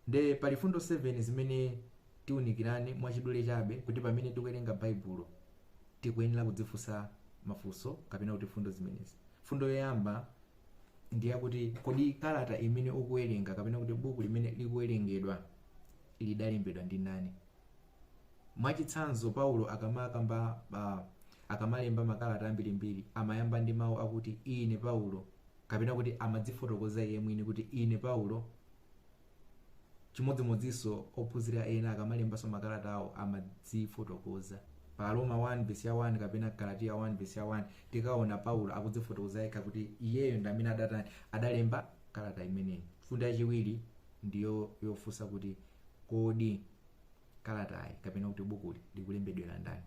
Nde pali fundo 7 zimene tiunikirane mwachidule chabe kuti pamene tikuwerenga baibulo tikuyenera kudzifunsa mafunso kapena kuti fundo zimenezi. Fundo yoyamba ndiyakuti kodi kalata imene ukuwerenga kapena kuti buku limene likuwerengedwa lidalembedwa ndi ndani? Mwachitsanzo paulo akamakamba uh, akamalemba makalata ambirimbiri amayamba ndi mau akuti ine paulo. kapena kuti amadzifotokoza iye mwini kuti ine paulo chimodzimodzinso ophunzira ena akamalembanso makalata awo amadzifotokoza pa aroma 1 vesi ya 1 kapena galatiya 1 vesi ya 1 tikaona paulo akudzifotokoza yekha kuti iyeyo ndi amene adatani adalemba kalata imeneyi mfundo yachiwiri ndiyo yofunsa kuti kodi kalatayi kapena kuti bukuli likulembedwera ndani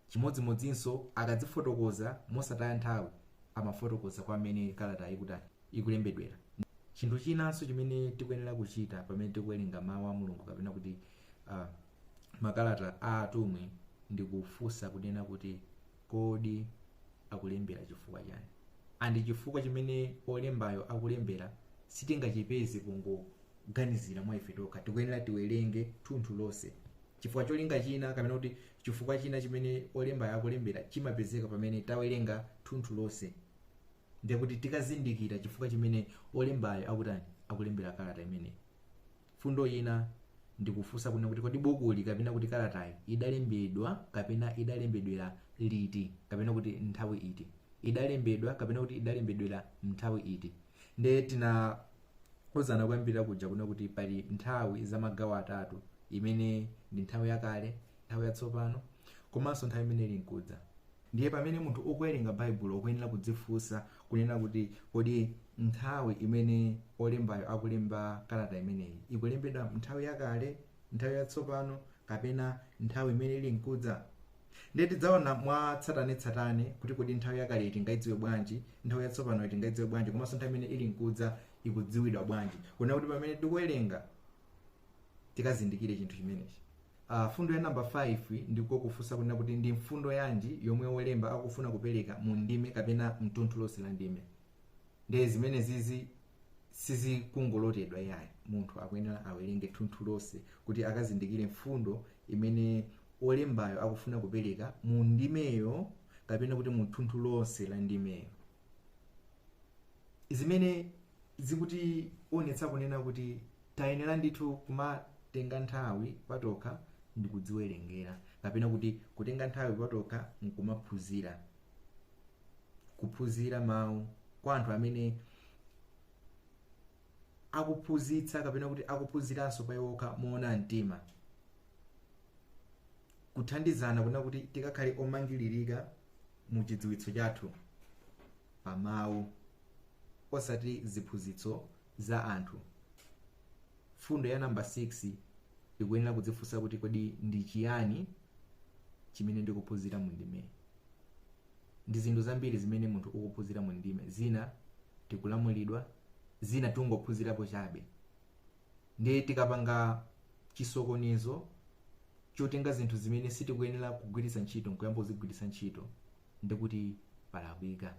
Chimodzimodzinso akadzifotokoza mosataya nthawi amafotokoza kwa amene kalatayo ikutani, ikulembedwera. Chinthu chinanso chimene tikuyenera kuchita pamene tikuwerenga Mawu a Mulungu kapena kuti ah, makalata a atumwi ndi kufunsa kunena kuti kodi akulembera chifukwa chani? And chifukwa chimene olembayo akulembera sitingachipeze pongoganizira mwa ife tokha. Tikuyenera tiwerenge thunthu lonse. chifukwa cholinga china kapena kuti chifukwa china chimene olembayo akulembera chimapezeka pamene tawerenga thunthu lonse ndiye kuti tikazindikira chifukwa chimene olembayo akutani akulembera kalata imeneyi fundo ina ndikufunsa kuna kuti kodi bukuli kapena kuti kalatayi idalembedwa kapena idalembedwera liti kapena kuti nthawi iti idalembedwa kapena kuti idalembedwera nthawi iti ndiye tina uzana kuyambirira kuja kuna kuti pali nthawi za magawo atatu imene ndi nthawi yakale nthawi yatsopano komanso nthawi imene ili nkudza ndiye pamene munthu ukuwerenga baibulo ukuyenera kudzifunsa kunena kuti kodi nthawi imene olembayo akulemba kalata imeneyi ikulembedwa nthawi yakale nthawi yatsopano kapena nthawi imene ili nkudza ndiye tidzaona mwa tsatanetsatane kuti kodi nthawi yakale tingaidziwe bwanji nthawi yatsopano tingaidziwe bwanji komanso nthawi imene ili nkudza ikudziwidwa bwanji kunena kuti pamene tikuwerenga tikazindikire chinthu chimenechi uh, fundo ya namba 5 ndiko kufunsa kunena kuti ndi mfundo yanji yomwe wolemba akufuna kupereka mu ndime kapena mthunthu lonse la ndime ndiye zimenezizi sizikungolotedwa yayi munthu akuyenera awerenge thunthu lonse kuti akazindikire mfundo imene olembayo akufuna kupereka mu ndimeyo kapena kuti mu thunthu lonse la ndimeyo zimene zikutionetsa kunena kuti tayenera ndithu kumatenga nthawi patokha ndi kudziwerengera kapena kuti kutenga nthawi patokha nkumaphunzira kuphunzira mawu kwa anthu amene akuphunzitsa kapena kuti akuphunziranso pa iwo okha moona mtima kuthandizana kunena kuti tikakhale omangilirika mu chidziwitso chathu pa mawu osati ziphunzitso za anthu fundo ya namba 6 ikuyenera kudzifunsa kuti kodi ndi chiyani chimene ndikuphunzira mu ndimeyi ndi zinthu zambiri zimene munthu ukuphunzira mu ndime zina tikulamulidwa zina tungophunzirapo chabe ndiye tikapanga chisokonezo chotenga zinthu zimene sitikuyenera kugwiritsa ntchito nkuyamba kuzigwiritsa ntchito ndikuti palakwika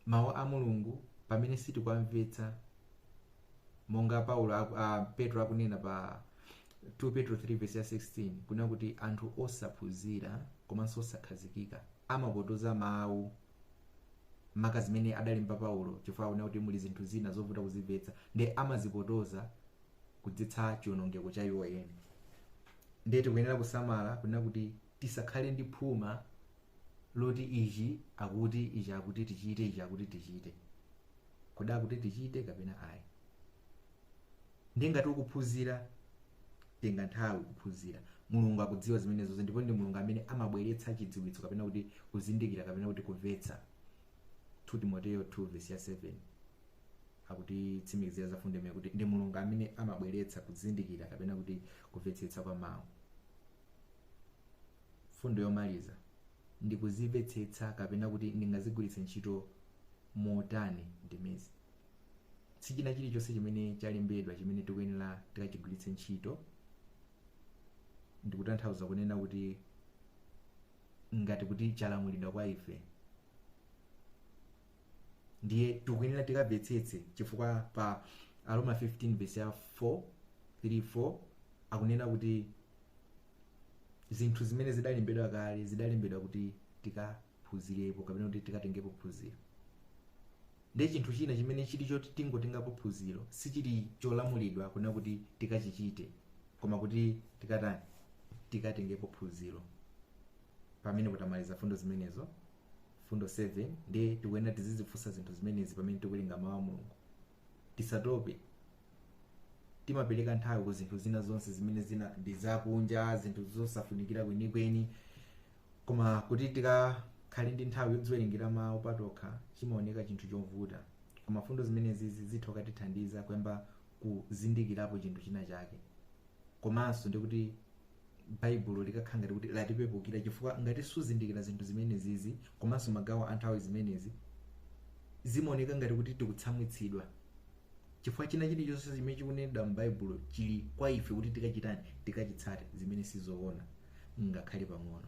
mawu a mulungu pamene sitikuwamvetsa monga paulo aku, a, petro akunena pa 2 petro 3 vesi ya 16 kunena kuti anthu osaphunzira komanso osakhazikika amapotoza mawu maka zimene adalemba paulo chifukwa akunena kuti muli zinthu zina zovuta kuzimvetsa ndiye amazipotoza kudzetsa chionongeko cha iwo eni ndiye tikuyenera kusamala kunena kuti tisakhale ndi phuma loti ichi akuti ichi akuti tichite ichi akuti tichite kodi akuti tichite kapena ayi ndiye ngati ukuphunzira tenga nthawi kuphunzira mulungu akudziwa zimenezozo ndipo ndi mulungu amene amabweretsa chidziwitso kapena kuti kuzindikira kapena kuti kumvetsa 2 timoteyo 2 vesi ya 7 akutitsimikizira za fundo imene kuti ndi mulungu amene amabweretsa kuzindikira kapena kuti kumvetsetsa kwa mawu fundo yomaliza ndi kuzimvetsetsa kapena kuti ndingazigwiritse ntchito motani ndimezi sichina chilichonse chimene chalembedwa chimene tikuyenera tikachigwiritse ntchito ndikutanthauza kunena kuti ngati kuti chalamulidwa kwa ife ndiye tikuyenera tikamvetsetse chifukwa pa aroma 15 verse ya 4 3 4 akunena kuti zinthu zimene zidalembedwa kale zidalembedwa kuti tika phunzirepo kapena kuti tikatengepo phunziro ndiye chinthu china chimene chili choti tingotengapo phunziro sichili cholamulidwa kunena kuti tikachichite koma kuti tikatani tikatengepo phunziro pamene potamaliza fundo zimenezo fundo 7 ndiye tikuyenera tizizifunsa zinthu zimenezi pamene tikuwerenga mawu a mulungu tisatope timapereka nthawi ku zinthu zina zonse zimene zina ndi zakunja zinthu zosafunikira kwenikweni koma kuti tikakhale ndi nthawi yodziwerengera mawu patokha chimaoneka chinthu chovuta koma fundo zimenezi zitha kutithandiza kuyamba kuzindikirapo chinthu china chake komanso ndi kuti baibulo likakhala ngati kuti latipepukira chifukwa ngati suzindikira zinthu zimenezi komanso magawo a nthawi zimenezi zimaoneka ngati kuti tikutsamwitsidwa chifukwa china chilichonse chimene chikunenedwa m'baibulo chili kwa ife kuti tikachitani tikachitsate zimene sizoona ngakhale pang'ono